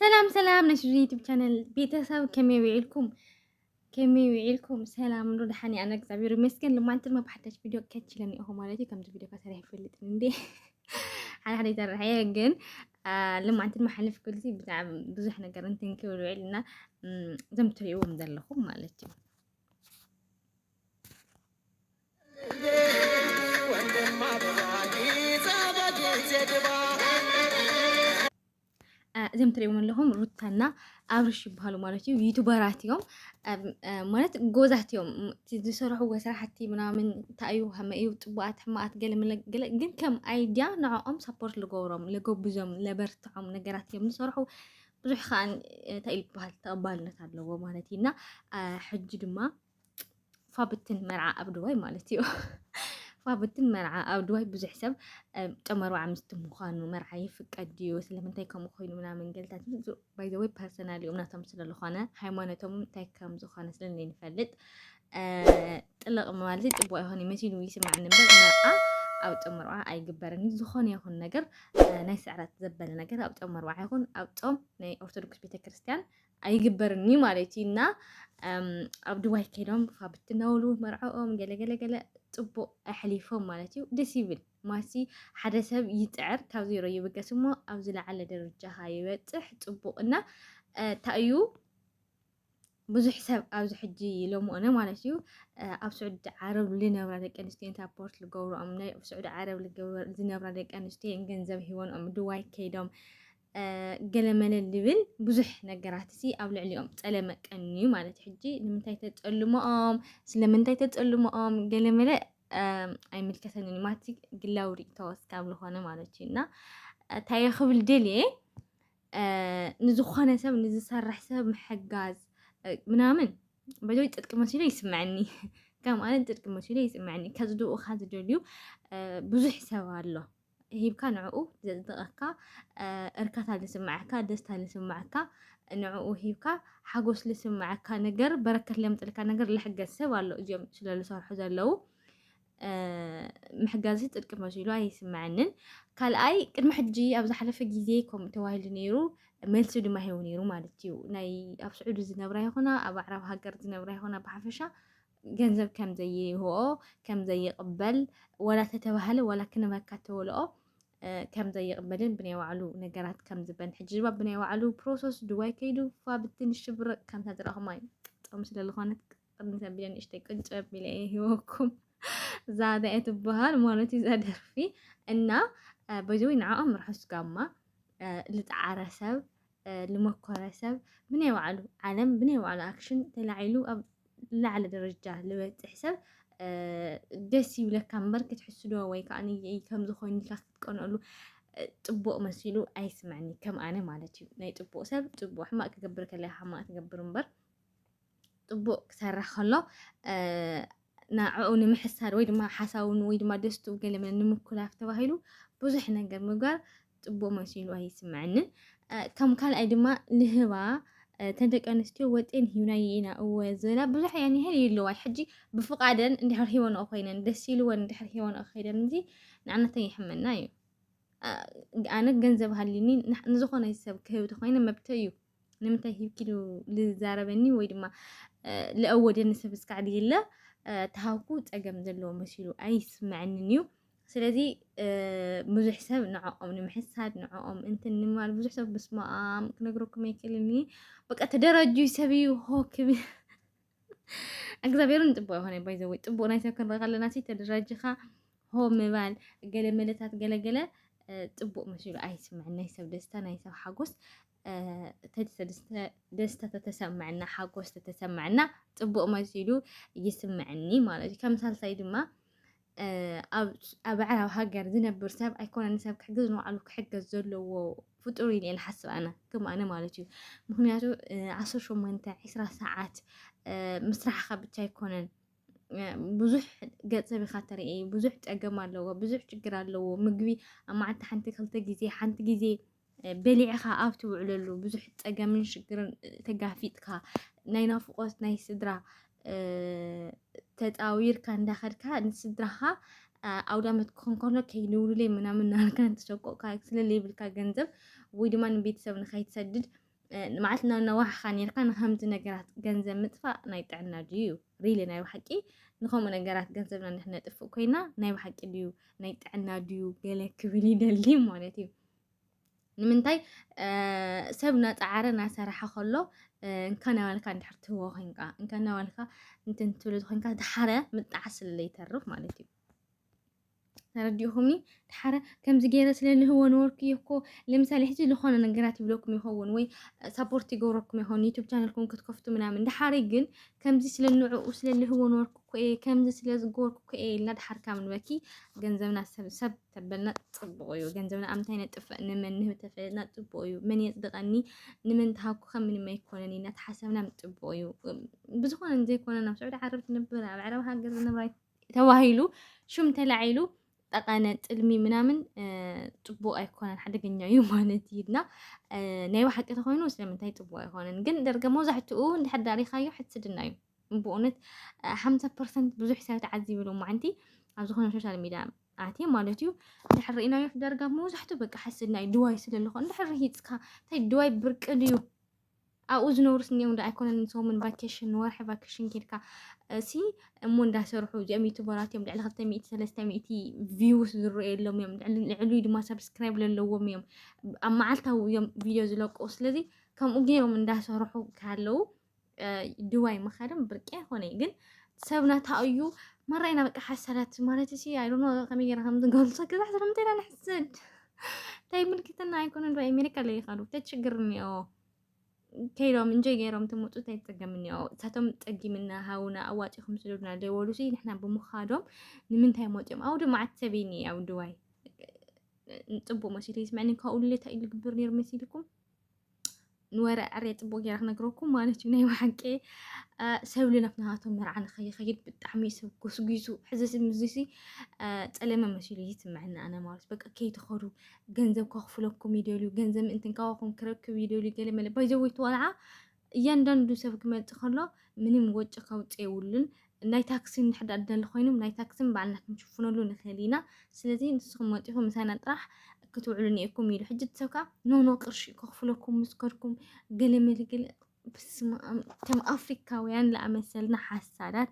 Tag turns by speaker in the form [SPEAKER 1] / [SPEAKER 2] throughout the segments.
[SPEAKER 1] ሰላም ሰላም ናይ ሽዱን ዩቱብ ቻነል ቤተሰብ ከመይ ውዒልኩም ከመይ ውዒልኩም ሰላም ዶ ደሓን ኣነ እግዚኣብሔር ይመስገን ልማንቲ ድማ ብሓዳሽ ቪድዮ ከች ኢለን እኹ ማለት እዩ ከምዚ ቪድዮ ከሰሪሕ ይፈልጥን እንዴ ሓደ ሓደ ይሰርሐ ግን ልማንቲ ድማ ሓልፍ ክልሲ ብዛዕባ ብዙሕ ነገር እንትን ክብል ውዒልና እዞም ትሪእዎም ዘለኹም ማለት እዩ እዚም ትሪእዎም ኣለኹም ሩታና ኣብርሽ ይበሃሉ ማለት እዩ። ዩቱበራት እዮም ማለት ጎዛት እዮም ዝሰርሕዎ ስራሕቲ ምናምን እንታይ እዩ ከመይ እዩ ፅቡቃት ሕማቃት ገለ ገለ ግን ከም ኣይድያ ንዕኦም ሰፖርት ልገብሮም ልገብዞም ለበርትዖም ነገራት እዮም ዝሰርሑ ብዙሕ ከዓ እንታይ ይበሃል ተቐባልነት ኣለዎ ማለት እዩ እና ሕጂ ድማ ፋብትን መርዓ ኣብ ድዋይ ማለት እዩ ፋብትን መርዓ ኣብ ድዋይ ብዙሕ ሰብ ጨም ኣርብዓ ምስቲ ምዃኑ መርዓ ይፍቀድ ድዩ ስለምንታይ ከምኡ ኮይኑ ምናምን ገልታት ባይዘወይ ፐርሰናል እዮም ናቶም ስለዝኾነ ሃይማኖቶም እንታይ ከም ዝኾነ ስለንፈልጥ ጥልቕ ማለት ፅቡቅ ይኾን መሲሉ ይስማዕኒ እምበር መርዓ ኣብ ፆም መርዓ ኣይግበርን እዩ ዝኾነ ይኹን ነገር ናይ ስዕረት ዘበለ ነገር ኣብ ፆም መርዓ ይኹን ኣብ ፆም ናይ ኦርቶዶክስ ቤተክርስትያን ኣይግበርን እዩ ማለት እዩ እና ኣብ ድዋይ ከይዶም ፋብት ነውሉ መርዕኦም ገለገለገለ ፅቡቅ ኣሕሊፎም ማለት እዩ ደስ ይብል ማሲ ሓደ ሰብ ይፅዕር ካብ ዜሮ ይብገስ እሞ ኣብ ዝለዓለ ደረጃ ይበፅሕ ፅቡቅ እና ታእዩ ብዙሕ ሰብ ኣብዚ ሕጂ ሎምኦነ ማለት እዩ ኣብ ስዑዲ ዓረብ ልነብራ ደቂ ኣንስትዮ እንታይ ፖርት ልገብርኦም ናይ ስዑዲ ዓረብ ዝነብራ ደቂ ኣንስትዮ ገንዘብ ሂወንኦም ድዋይ ከይዶም ገለመለ ልብል ብዙሕ ነገራት እዚ ኣብ ልዕሊኦም ፀለመ ቀንዩ ማለት ሕጂ ንምንታይ ተፀልሞኦም ስለምንታይ ተፀልሞኦም ገለመለ ኣይምልከተንን ማቲ ግላዊ ሪእቶ እስካብ ዝኾነ ማለት እዩ እና እንታይ ክብል ደልየ ንዝኾነ ሰብ ንዝሰርሕ ሰብ ምሕጋዝ ምናምን በጆይ ጽድቂ መሲሉ ይስምዐኒ ከም ኣነ ጽድቂ መሲሉ ይስምዐኒ ከጽድኡኻ ዝደልዩ ብዙሕ ሰብ ኣሎ ሂብካ ንዕኡ ዘጽድቐካ እርካታ ልስምዓካ ደስታ ልስምዓካ ንዕኡ ሂብካ ሓጎስ ልስምዓካ ነገር በረከት ለምጽልካ ነገር ልሕገዝ ሰብ ኣሎ እዚኦም ስለ ዝሰርሑ ዘለዉ ምሕጋዝሲ ጽድቂ መሲሉ ኣይስምዐንን። ካልኣይ ቅድሚ ሕጂ ኣብ ዝሓለፈ ግዜ ከምኡ ተባሂሉ ነይሩ መልሲ ድማ ሂቡ ነይሩ ማለት እዩ። ናይ ኣብ ስዑዲ ዝነብራ ይኹና ኣብ ኣዕራብ ሃገር ዝነብራ ይኹና ብሓፈሻ ገንዘብ ከም ዘይህኦ ከም ዘይቕበል ወላ ተተባህለ ወላ ክንበካ ተወልኦ ከም ዘይቕበልን ብናይ ባዕሉ ነገራት ከም ዝበን ሕጂ ድማ ብናይ ባዕሉ ፕሮሰስ ድዋይ ከይዱ ፋብትን ሽብርቅ ከምታ ዝረኹማ እዩ ጥቕሚ ስለዝኾነት ቅድም ዘቢለ ንእሽተይ ቅንጨብ ኢለ እየ ሂወኩም እዛ እንታይ ትበሃል ማለት እዩ እዛ ደርፊ እና በዚ ንዓኦም ርሑስ ጋማ ልፃዓረ ሰብ ልመኮረ ሰብ ብናይ ባዕሉ ዓለም ብናይ ባዕሉ ኣክሽን ተላዒሉ ኣብ ላዕለ ደረጃ ልበፅሕ ሰብ ደስ ይብለካ እምበር ክትሕስዶ ወይ ከዓ ከምዚ ኮይኑ ኢልካ ክትቀንኣሉ ፅቡቅ መሲሉ ኣይስምዐኒ ከም ኣነ ማለት እዩ ናይ ፅቡቅ ሰብ ፅቡቅ ሕማቅ ክገብር ከለካ ሕማቅ ትገብር እምበር ጥቡቅ ክሰርሕ ከሎ ንዕኡ ንምሕሳር ወይ ድማ ሓሳውን ወይ ድማ ደስትኡ ገለመን ንምኩላፍ ተባሂሉ ብዙሕ ነገር ምግባር ፅቡቅ መሲሉ ኣይስምዐንን ከም ካልኣይ ድማ ንህባ እተን ደቂ ኣንስትዮ ወጤን ሂብና ኢና እወ ዝበላ ብዙሕ እየን ይህል ይለዋይ ሕጂ ብፍቃደን እንድሕር ሂወንኦ ኮይነን ደስ ኢልወን እንድሕር ሂወንኦ ከይደን እዚ ንኣነተን ይሕመና እዩ ኣነ ገንዘብ ሃሊኒ ንዝኾነ ሰብ ክህብ ተኮይነ መብተይ እዩ ንምንታይ ሂብኪ ዶ ዝዛረበኒ ወይ ድማ ልኣወደኒ ሰብ እስካዕ ድይለ ተሃውኩ ፀገም ዘለዎ መሲሉ ኣይስምዐንን እዩ ስለዚ ብዙሕ ሰብ ንዕኦም ንምሕሳድ ንዕኦም እንትን ንማል ብዙሕ ሰብ ብስማኣም ክነግረኩም ኣይክእልን እየ በቃ ተደራጁይ ሰብ እዩ ሆክብ እግዚኣብሔርን ፅቡቅ ይኮነ ባይዘወይ ፅቡቅ ናይ ሰብ ክንረኢ ከለና ሲ ተደራጅኻ ሆ ምባል ገለ መለታት ገለገለ ፅቡቅ መሲሉ ኣይስምዐን ናይ ሰብ ደስታ ናይ ሰብ ሓጎስ ደስታ ተተሰምዐና ሓጎስ ተተሰምዐና ፅቡቅ መሲሉ ይስምዐኒ ማለት እዩ። ከም ሳልሳይ ድማ ኣብ ኣዕራብ ሃገር ዝነብር ሰብ ኣይኮነ ንሰብ ክሕግዝ ንባዕሉ ክሕገዝ ዘለዎ ፍጡር ኢለ ንሓስብ ኣነ ከም ኣነ ማለት እዩ። ምክንያቱ ዓሰርተ ሸሞንተ ዕስራ ሰዓት ምስራሕካ ብቻ ኣይኮነን ብዙሕ ገፀ ብካ ተርኢ ብዙሕ ፀገም ኣለዎ፣ ብዙሕ ችግር ኣለዎ። ምግቢ ኣብ መዓልቲ ሓንቲ ክልተ ግዜ ሓንቲ ግዜ በሊዕኻ ኣብ ትውዕለሉ ብዙሕ ፀገምን ሽግርን ተጋፊጥካ ናይ ናፍቆት ናይ ስድራ ተፃዊርካ እንዳኸድካ ንስድራኻ ኣውደ ዓመት ክኾን ከሎ ከይንውልለይ ምናምን ናልካ እንትሸቆቕካ ስለለይብልካ ገንዘብ ወይ ድማ ንቤተሰብ ንኸይትሰድድ ማለት ነዋሕኻ ነርካ ንከምዚ ነገራት ገንዘብ ምጥፋእ ናይ ጥዕና ድዩ ሪሊ ናይ ብሓቂ ንከምኡ ነገራት ገንዘብና ንሕነጥፍእ ኮይና ናይ ብሓቂ ድዩ ናይ ጥዕና ድዩ ገለ ክብል ይደሊ ማለት እዩ ንምንታይ ሰብ ናፃዓረ ናሰራሓ ከሎ እንካ ናባልካ እንድሕር ትህቦ ኮንካ እንካ ናባልካ እንትን ትብሉ ኮንካ ድሓረ ምጣዕ ስለ ይተርፍ ማለት እዩ ተረዲኡኹምኒ ድሓረ ከምዚ ገይረ ስለ ልህቦ ነበርኩ እየ እኮ ለምሳሌ ሕጂ ዝኾነ ነገራት ይብለኩም ይኸውን ወይ ሳፖርት ይገብረኩም ይኸውን ዩቱብ ቻነልኩም ክትከፍቱ ምናምን ድሓረ ግን ከምዚ ስለ ንዕኡ ስለ ልህቦ ነበርኩ እኮ እየ ከምዚ ስለ ዝገበርኩ እኮ እየ ኢልና ድሓር ካብ ንበኪ ገንዘብና ሰብ ሰብ ተበልና ጽቡቕ እዩ ገንዘብና ኣብ ምንታይ ነጥፍእ ንመን ንህብ ተፈለጥና ጽቡቕ እዩ መን የጽድቐኒ ንመን ተሃብኩ ከም ምንም ኣይኮነን ኢና ተሓሰብና ምጽቡቕ እዩ ብዝኾነ ዘይኮነ ናብ ስዑዲ ዓረብ ትነብር ኣብ ዕረብ ሃገር ዝነብራ ተባሂሉ ሹም ተላዒሉ ጠቐነ ጥልሚ ምናምን ጽቡቕ ኣይኮነን ሓደገኛ እዩ ማለት እዩ እና ናይ ባሓቂ ተኾይኑ ስለምንታይ ጽቡቕ ኣይኮነን ግን ደርገ መብዛሕትኡ እንድሕር ዳሪኻዮ ሕስድና እዩ ብእውነት ሓምሳ ፐርሰንት ብዙሕ ሰብ ተዓዚብሉ ማዓንቲ ኣብ ዝኾነ ሶሻል ሚድያ ኣትየ ማለት እዩ እንድሕር ርኢናዮ ዳርጋ መብዛሕትኡ በቃ ሓስድና እዩ ድዋይ ስለ ዝኾ እንድሕር ርሂፅካ እንታይ ድዋይ ብርቂ ድዩ ኣብኡ ዝነብሩ ስኒኦም ዶ ኣይኮነን ሰሙን ቫኬሽን ወርሒ ቫኬሽን ኬድካ እሲ እሞ እንዳሰርሑ እዚኦም ዩቱበራት እዮም ልዕሊ ክልተ ሚእቲ ሰለስተ ሚእቲ ቪውስ ዝረኣየሎም እዮም ልዕሉ ድማ ሰብስክራይብ ዘለዎም እዮም ኣብ መዓልታዊ እዮም ቪድዮ ዝለቁ ስለዚ ከምኡ ገይሮም እንዳሰርሑ ካለው ድዋይ ምኻድም ብርቂ ኣይኮነይ ግን ሰብና ታኡ እዩ መራይና በቃ ሓሰረት ማለት ሲ ኣይዶኖ ከመይ ገይረ ከም ዝገልፆ ግዛ ሕሰር ምንታይ ኢና ንሕስድ እንታይ ምልክትና ኣይኮነ ዶ ኣሜሪካ ለይኻዱ እንታይ ችግር እኒኦ ከይዶም እንጆይ ገይሮም ትምፁ እንታይ ፀገም እኒኦ እሳቶም ፀጊምና ሃውና ኣዋፂኹም ስደዱና ደወሉ ሲ ንሕና ብምኻዶም ንምንታይ መፅኦም ኣውዲ መዓት ሰብ እኒ ኣብ ድዋይ ፅቡቅ መሲሉ ይስምዐኒ ካብኡ ሌታ ኢሉ ግብር ነይሩ መሲልኩም ንወረ ዕርየ ፅቡቅ ጌራ ክነግረኩም ማለት እዩ ናይ ብሓቂ ሰብ ልደት ናሃቶም መርዓ ንኸይኸይድ ብጣዕሚ ሰብ ጎስጒሱ ሕዚ ምዚሲ ፀለመ መሲሉ ይስምዐና ኣነ ማለት በቃ ከይትኸዱ ገንዘብ ከኽፍለኩም ይደልዩ ገንዘብ ምእንትን ካባኹም ክረክብ ይደልዩ ገለ መለ ባይዘወይ ተዋልዓ እያንዳንዱ ሰብ ክመጽእ ከሎ ምንም ወጪ ከውጽእ የብሉን። ናይ ታክሲ እንድሕር ደኣ ዝደሊ ኮይኑ ናይ ታክሲ ባዕልና ክንሽፍነሉ ንኽእል ኢና። ስለዚ ንስኹም መጺኹም ምሳና ጥራሕ ክትውዕሉ ኔርኩም ኢሉ። ሕጂ እቲ ሰብ ከኣ ኖ ኖ ቅርሺ ከኽፍለኩም ምስ ከድኩም ገለ መልገለ በስመኣም ከም ኣፍሪካውያን ለኣመሰልና ሓሳዳት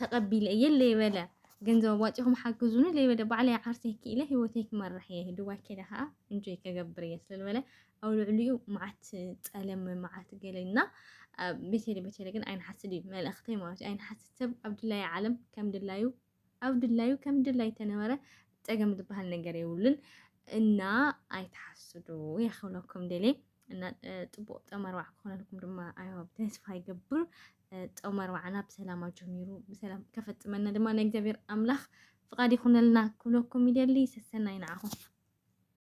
[SPEAKER 1] ተቀቢለ እየ ለይበለ ገንዘብ ኣዋፂኹም ሓግዙኒ ለይበለ ባዕለይ ዓርሰይ ክኢለ ሂወተይ ክመርሕ እየ ዱባይ ከይደ ከዓ እንጆይ ከገብር እየ ስለዝበለ ኣብ ልዕሊኡ መዓት ፀለመ መዓት ገለና ቤተለ ቤተለ ግን ኣይንሓስድ እዩ መልእኽተይ ማለት እዩ ኣይንሓስድ ሰብ ኣብ ድላዩ ዓለም ከም ድላዩ ኣብ ድላዩ ከም ድላይ ተነበረ ፀገም ዝበሃል ነገር የብሉን እና ኣይትሓስዱ የኽብለኩም ደሌ እና ፅቡቅ ጠመርባዕ ክኾነልኩም ድማ ኣየዋ ተስፋ ይገብር። ጠመርባዕና ብሰላም ኣጀሚሩ ብሰላም ከፈፅመና ድማ ናይ እግዚኣብሔር ኣምላኽ ፍቃድ ይኹነልና ክብለኩም ይደሊ። ሰሰናይ ንዓኹም።